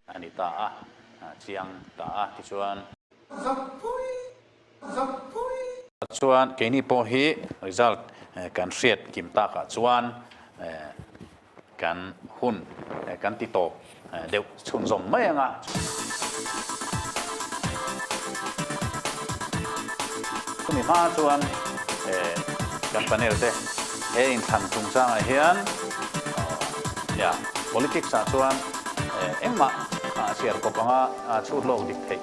a ni ta a, a chiang ta a tichuan. Vak pui zam pui. Kha chuan keini pawh hi result kan hriat kim tak ah chuan kan hun kan ti tawp deuh chhunzawm mai ang a. Chumi hma chuan kan panel te he inthlan chungchang ah hian politics ah chuan engmah a chhiar kawp ang a chhut lawk dik theih.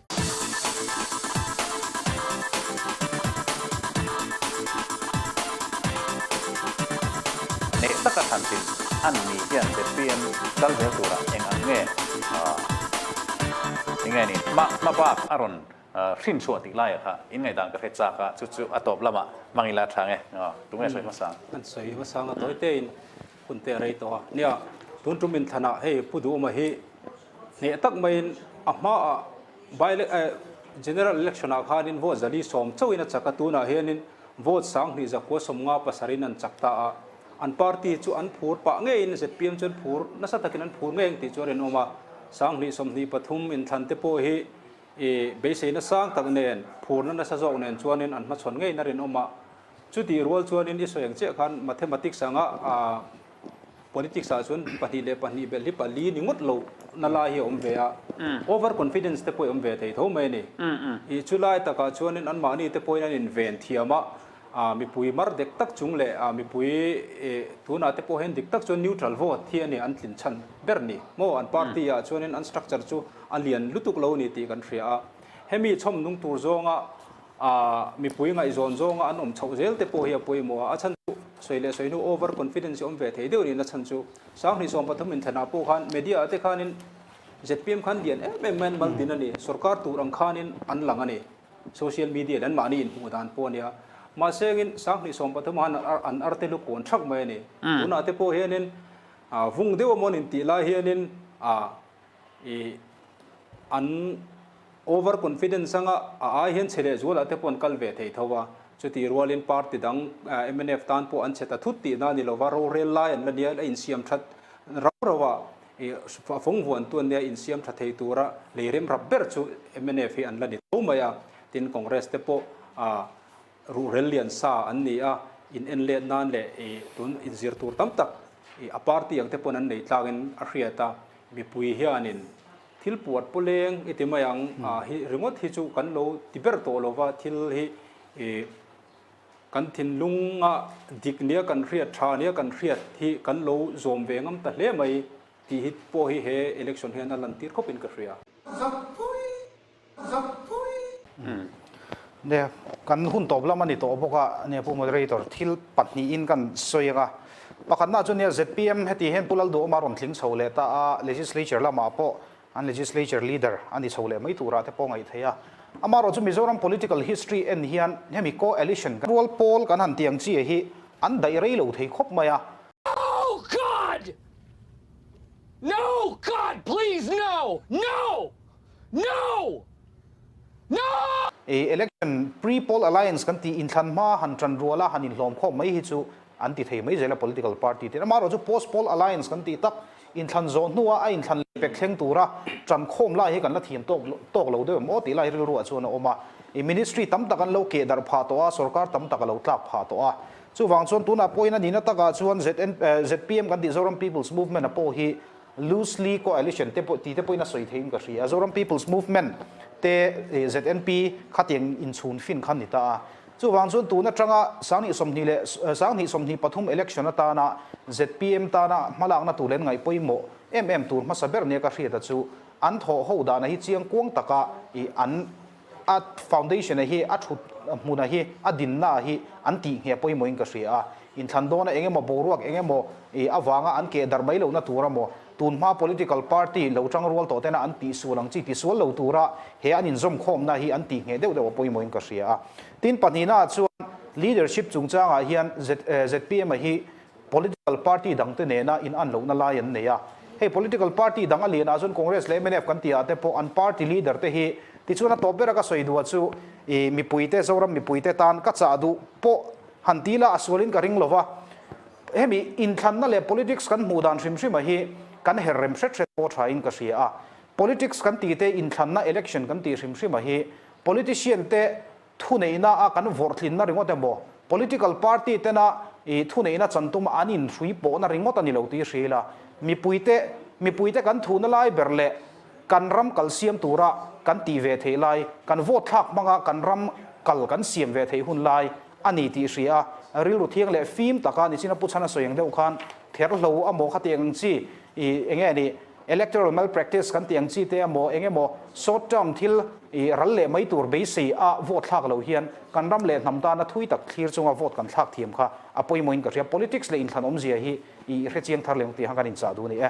Neh taka thlan tin an ni hian zpm kal zel tura eng ang nge ahh enge ni hma hma bak a rawn hrin chhuah tih laia kha in ngaihdan ka hre chak a chu chu a tawp lamah hmang ila tha nge? Tunge sawi hmasa? An sawi hmasa anga tawi tein. Hun te a rei tawh a nia, tun tum in thlana hei Pu Duhma hi hneh tak maiin a hmaah by general election ah khanin vote zali sawm chauhin a chak a, tunah hianin vote sang hnih zakua sawmnga pasarin an chak ta a, an party chu an phur pah ngeiin zpm chuan phur nasa takin an phur ngei ang tih chu a rinawm a, sang hnih sawm hnih pathum inthlante pawh hi beiseina sang tak nen phurna nasa zawk nen chuanin an hmachhawn ngeina rinawm a. Chutih rual chuanin i sawi ang chiah khan mathematics anga politics ah chuan pahnih leh pahnih belh hi pali ni ngawt lo na lai hi a awm ve a, over confidence te pawh a awm ve thei tho mai a ni. I chu lai takah chuanin anmahni te pawhin an inven thiam a, mipui mar dek tak chung leh mipui tunah te pawhin dik tak chuan neutral vote hi a ni an tlin chhan ber ni maw an party ah chuanin an structure chu a lian lutuk lo a ni tih kan hria a, hemi chhawmnung tur zawnga A mipui ngaihzawn zawnga an awm chhoh zel te pawh hi a pawimawh a, a chhan chu sawi leh sawi hnu over confidence awm ve thei deuh niin a chhan chu. Sanghnih sawm pathum inthlenah pawh khan media ah te khanin zpm khan lian em em maiin maltin a ni, sorkar tur ang khanin an lang a ni, social media leh an mahni inhmuh dan pawh a nia. Mahsengin sanghnih sawm pathum ah khan an arte lu kawn thak mai a ni. Tunah te pawh hianin vung deuh a mawn intih lai hianin i an. Over confidence anga a ai hian chhe leh zuala te paw'n kal ve thei tho a, chuti rualin party dang mnf tan pawh an chhe ta thut tihna a ni lova rorel lai an la nia a insiam that rau rau a, a fawngvuantu an nia insiam tha thei tura lei remrap ber chu mnf hi an la ni tho mai a, tin congress te pawh a ruhrel lian sa an ni a, in en let nan leh tun in zir tur tam tak a party ang te paw'n an nei tlangin a hriat a, mipui hianin. Thil puat pawh leng i ti mai ang, ah hi ringawt hi chu kan lo ti ber tawh lo va, thil hi ih kan thinlunga dik nia kan hriat tha nia kan hriat hi kan lo zawm ve ngam ta hle mai tih hi pawh hi he election hian a lantir khawp in ka hria. Zak pui! zam pui. Nia kan hun tawp lam a ni tawh bawk a, nia Pu Moderator thil pahnih in kan sawi ang a, pakhatna chuan nia zpm heti hian Pu Lalduawma rawn tling chho leh ta a, Legislature lamah pawh an Legislature Leader a ni chho leh mai turah te pawh a ngaih thei a, amaherawh chu Mizoram Political History en hian hemi Coalition kan rual pawl kan han tih ang chi hi an daih rei lo thei khawp mai a. No God! No God! Please no! No! No! No! I election pre poll alliance kan ti inthlan hma han tan rual a han inhlawm khawm mai hi chu an ti thei mai zel a political party te amaherawh chu post poll alliance kan tih tak inthlan zawh hnu a a inthlan leh pek thleng tura tan khawm lai hi kan la thiam tawk tawk lo deuh em aw tih lai rilruah chuan a awm a i ministry tam tak an lo keh darh phah tawh a sorkar tam tak a lo tlak phah tawh a chuvang chuan tunah pawhin a nihna takah chuan zn eh, zpm kan tih Zoram people's movement a pawh hi Loosely coalition te pawh tite pawhin a sawi theihin ka hria. Zoram People's Movement te ZNP khatiang in chhun fin kha ni ta a. Chuvang chuan tun atanga Sanghnih sawmhnih leh Sanghnih sawmhnih pathum election atana zpm tana hmalakna tur len ngaih pawimawh em em tur hmasa ber nia ka hriat a chu an thawh ho dana hi chiang kuang taka an A foundation-a hi, a thut hmuna hi, a dinna-a hi an tih ngheh pawimawhin ka hria a, inthlan dawna eng emaw boruak eng emaw ih avanga an keh darh mai lohna tura maw, tunhma political party lo chang rual tawh tena an tih sual ang chi tisual lo tura he an inzawm khawmna hi an tih ngheh deuh deuha pawimawhin ka hria a. Tin pahnihna-ah chuan leadership chungchangah hian ZPM-a hi Political party dangte nena in an lohna lai an nei a, hei political party dang a lianah chuan Congress leh mnf kan tihah te pawh an party leader te hi tichuan a tawp bera ka sawi duh a chu i mipuite Zoram mipuite tan ka chah duh pawh han ti la a sualin ka ring lova hemi inthlanna leh politics kan hmuh dan hrim hrima hi kan her rem hret hret pawh thain ka hria a politics kan tite inthlanna election kan tih hrim hrima hi politician te thuneihna a kan vawrhthlinna ringawt emaw political party tena ih thuneihna chan tuma an inhrui pawhna ringawt a ni lo tih i hrial a. Mipuite, mipuite kan thuhna lai ber leh kan ram kalsiam tura kan tih ve theih lai, kan vote thlak hmanga kan ram kal kan siam ve theih hun lai a ni tih i hria a. Rilru thiang leh fim taka nichin a pu chhan a sawi ang deuh khan therhlo amaw khati ang ang chi ih enge a nih, Electoral malpractice kan tih ang chi te emaw eng emaw short term thil ih ral leh mai tur beisei a vote thlak lo hian kan ram leh hnam tana thui tak thlir chunga vote kan thlak thiam kha a pawimawhin ka hria politics leh inthlan awmzia hi i hrechiang thar leh ang tih khan kan inchah duh a ni e.